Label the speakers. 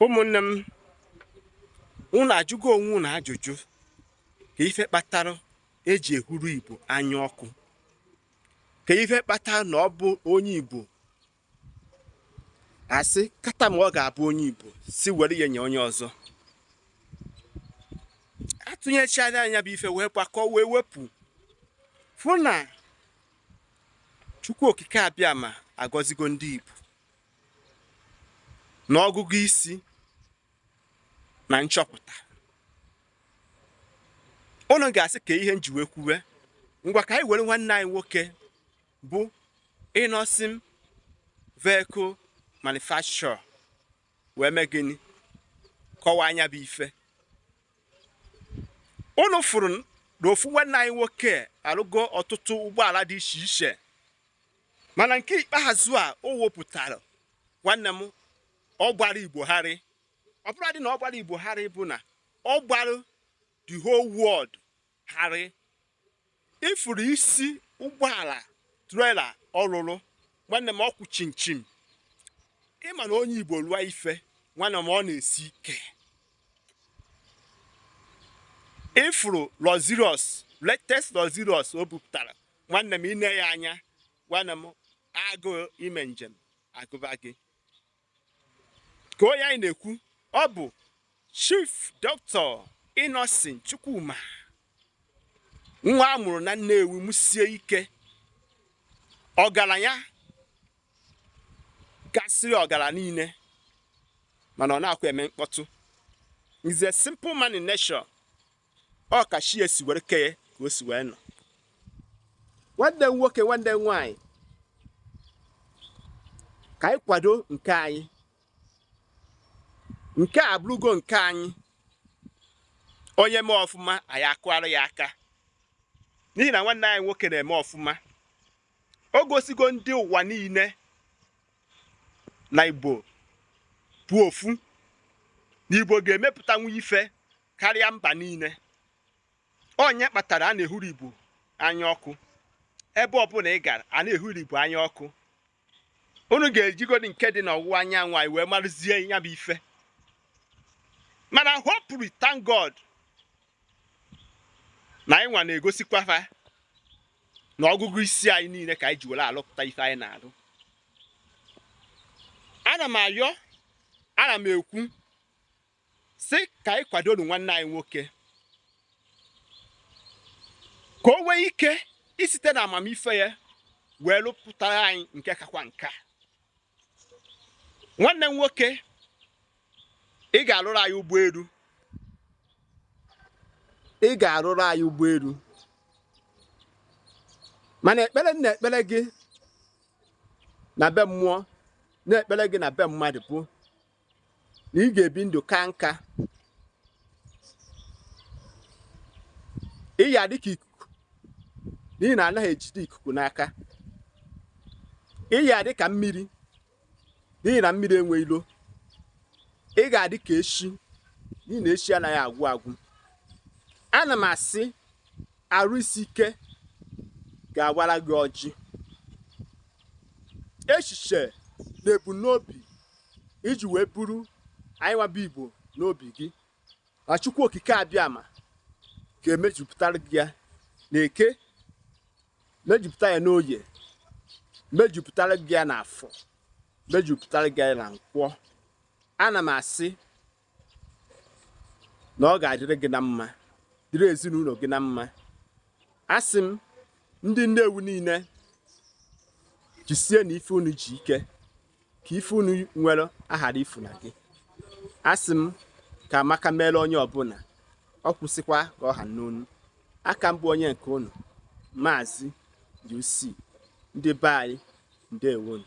Speaker 1: ụmụnne m unu ajụgo onwe unu ajụjụ kee ife kpatara e ji ehuru igbo anya ọkụ kee ife kpatara na ọ bụ onye igbo a sị kata ma ọ ga-abụ onye igbo sị were ya nye onye ọzọ atụnyechara nya bụ ife wee gbakọ wee wepụ fụ na chukwu okike abịama agọzigo ndị igbo na ọgụgụ isi na nchọpụta unu ga-asị kee ihe m ji wee kwuwe ngwa ka anyị were nwanne anyị nwoke bụ innoson vehicle manufacturer wee mee gịnị kọwaa nya bụ ife unu fụrụ na ofu nwanne anyị nwoke arụgo ọtụtụ ụgbọala dị iche iche mana nke ikpeazụ a o wepụtara nwanne m ọ gbara igbo gharị ọ bụrọdị na ọ gbara igbo gharị bụ na ọ gbara the whole world gharị ị fụrụ isi ụgbọala trailer ọ lụlụ nwanne m ọ kwụ chịm chịm ị ma na onye igbo lụọ ife nwanne m ọ na-esi ike ị fụrụ luxurious latest luxurious o bupụtara nwanne m i nee ya anya nwanne m agụụ ime njem agụba gị kee onye anyị na-ekwu ọ bụ chief doctor innocent chukwuma nwa a mụrụ na nnewi mụsie ike ọgaranya kasịrị ọgara niile mana ọ naakwa eme mkpọtụ he's a simple man in nature ọ ka chi ya si were kee ya ka o si wee nọ nwanne m nwoke nwanne m nwaanyị ka anyị kwado nke anyị nke a abụrụgo nke anyị onye mee ọfụma anyị akụara ya aka n'ihi na nwanne anyị nwoke na-eme ọfụma o gosigo ndị ụwa niile na igbo bụ ofu na igbo ga-emepụtanwu ife karịa mba niile ọ nya kpatara a na-ehuru Igbo anya ọkụ ebe ọbụla ị gara a na-ehuru Igbo anya ọkụ unu ga-ejigodi nke dị n'ọwụwa anyanwụ anyị wee marụzie ya bụ ife mana hopefully thank God na anyị nwa na-egosikwa fa na ọgụgụ isi anyị niile ka anyị ji were alụpụta ife anyị na-alụ ana m ayọ ana m ekwu sị ka anyị kwadoro nwanne anyị nwoke ka o nwee ike isite na amamife ya wee lụpụtara anyị nke kakwa nke a nwanne m nwoke ị ga-arụrụ anyị ụgbọelu ị ga-arụrụ anyị ụgbọelu mana ekpere m na-ekpere gị na be mmụọ na-ekpere gị na be mmadụ bụ na ị ga-ebi ndụ kaa nka ị ya-adị ka ikuku n'ihi na anaghị ejide ikuku n'aka ị ya-adị ka mmiri n'ihi na mmiri enwe ilo ị ga-adị ka eshi n'ihi na eshi anaghị agwụ agwụ ana m asị arụ isi ike ga-awara gị ọjị echiche na ebumnobi i ji wee buru anyị nwa bụ igbo n'obi gị na chukwu okike abịama ga-emejupụtara gị ya na eke mejupụta ya n'oye mejupụtara gị ya n'afọ mejupụtara gị ya na nkwọ ana m asị na ọ ga-adịrị gị na mma dịrị ezinụlọ gị na mma asị m ndị Nnewi niile jisie na ife unu ji ike ka ife unu nwere aghara ifu na gị asị m ka amaka meere onye ọbụla ọ kwụsịkwa ka ọ ha n'onu aka m bụ onye nke unu maazị UC ndị be anyị ndewonu